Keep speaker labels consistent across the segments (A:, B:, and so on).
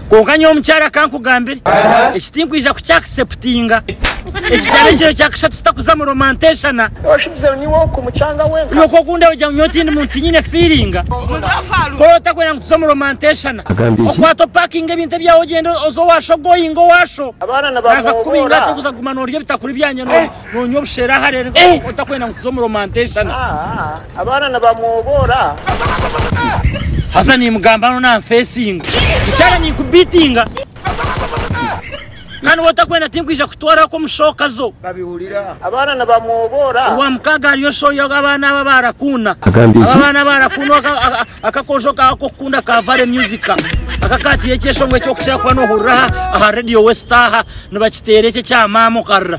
A: Kwonka nyowe omukyara aka ankugambire eki tinkwija kukya acceptinga. Eki kyaba ekiro kya kashatu tutakuza mu romanteshana.
B: Okwo okundeba ogira ngu nyowe
A: tindi muntu tinyine feeling. Kora otakwenda ngu tuze omu romanteshana. Okwata opakinge ebintu ebyawe ogyende oze owasho ogoinge owasho. Naaza kukuba
B: ingata okuza kuguma
A: norya ebitakuri byangye. Nonywa obushera hare otakwenda ngu tuze omu romanteshana. Abaana
B: nibamwoboora.
A: Haza nimugamba ano nanfesinga. Mukyara ninkubitinga. Kandi wotakwenda tinkwija kutwara ko mushoka zo. Babihurira. Abaana
B: nibamwoboora. Owa mukaaga hariyo
A: shoyo abaana aba barakunda. Agambye ki? Aba baana barakunda akakojo kawe kokukunda ka Vale Music. Akakatiire ekyeshongwe ekyokukira kuba nohurira aha Radio West aha nibakiteera ekye kya maama okarira.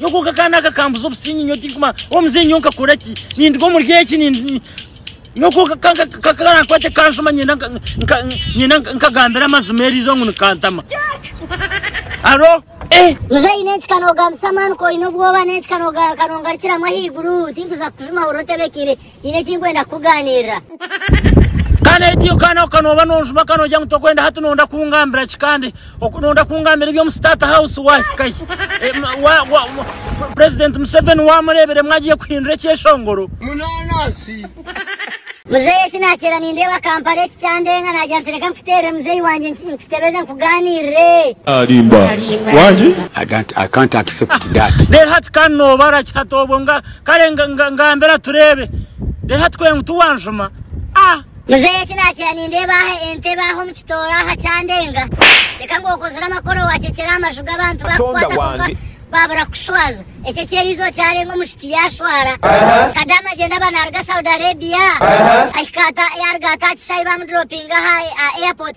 A: Nyowe konka akaana aka kambuza obusinge nyowe tinkumanya oba muzeeyi nyowe nkakora ki ninduga omuri eki nyowe konka karankwate kanshuma nyenda nyenda nkagambira amazima eriizooba ngu nikantama aro eh. Muzeeyi
C: n'enki kanogambisa amaani ku oine obwoba n'enki kanongarukiramu ahaiguru tinkuza kukujuma hurira otebekire Nyine eki ndikwenda kukugaanirira.
A: Kandi hati iwe kaana ako nooba noonjuma ka noogira ngu tokwenda, hati noonda kungambira ki? Kandi noonda kungambira eby'omu State House waahika hi? Purezidenti Museveni waamureebiremu agiye kuhindura ekyeshongoro.
C: Muzeeyi eki naakireeba nindeeba Kampala eki kyandeenga naagira nti reka nkuteerere muzeeyi
D: wangye nkutebeze
E: nkugaanirire. Reero hati ka noobara
A: ki hati obwo? Kare ngambira tureebe reero hati kwera ngu tiwanjuma ah. Muzeeyi
C: eki naakira nindeeba aha entebe aha omu kitooro aha kyandenga. Reka ngu okozire amakoro waakyekyera aha maju g'abantu baakukwata kwonka baabura kukushwaza. Eki eky'eri izooba kyarenga omushiki yaashwara. Kadaama gyenda aba naaruga Saudi Arabia ahika ata yaaruga ata aha kishaayi baamuduroopinga aha airport.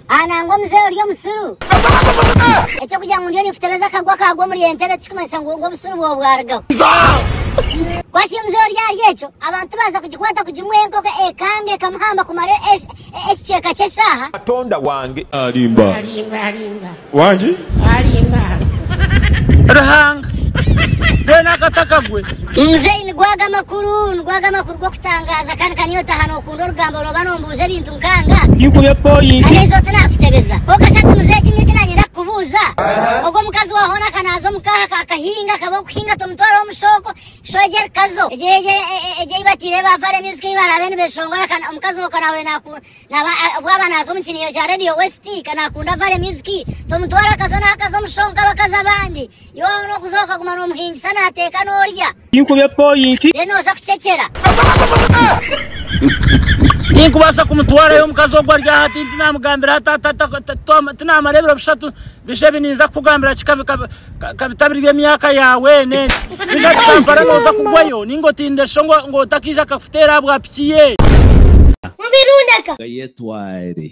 A: Aha nangwa omuzehe orya
C: omusuru. Ekyokugira ngu ndiyo ninkutebeza akagwa akagwa omuri entebe tikikumanyisa ngu ngu obusuru bwawe bwarugaho. Kwasya omuzehe orya ahari ekyo, abantu baza kugikwata kugimuha enkoko ekanga ekamuhamba kumara e, e, e, ekicweka ky'eshaaha. Katonda wange
D: alimba wangi.
A: Ruhanga mbwenu akata kagwe. Muzeyi nigwaga
C: amakuru nigwaga amakuru g'okutangaaza kandi ka niyo otaaha nookunda orugambo orooba noombuuza ebintu. nkanga. Ndigurya pointi.
A: Tinkubaasa kumutwarayo omukazi ogu ari aha, tinamugambira aha taata, tinamara ebiro bishatu, bije ebi ninza kukugambira ki ka bitabire by'emyaka yaawe n'ensi? Bije aha Kampala nooza kugwayo nainga otindire sho ngu otakeija akakuteera aha bwa piki ye? Gayetware.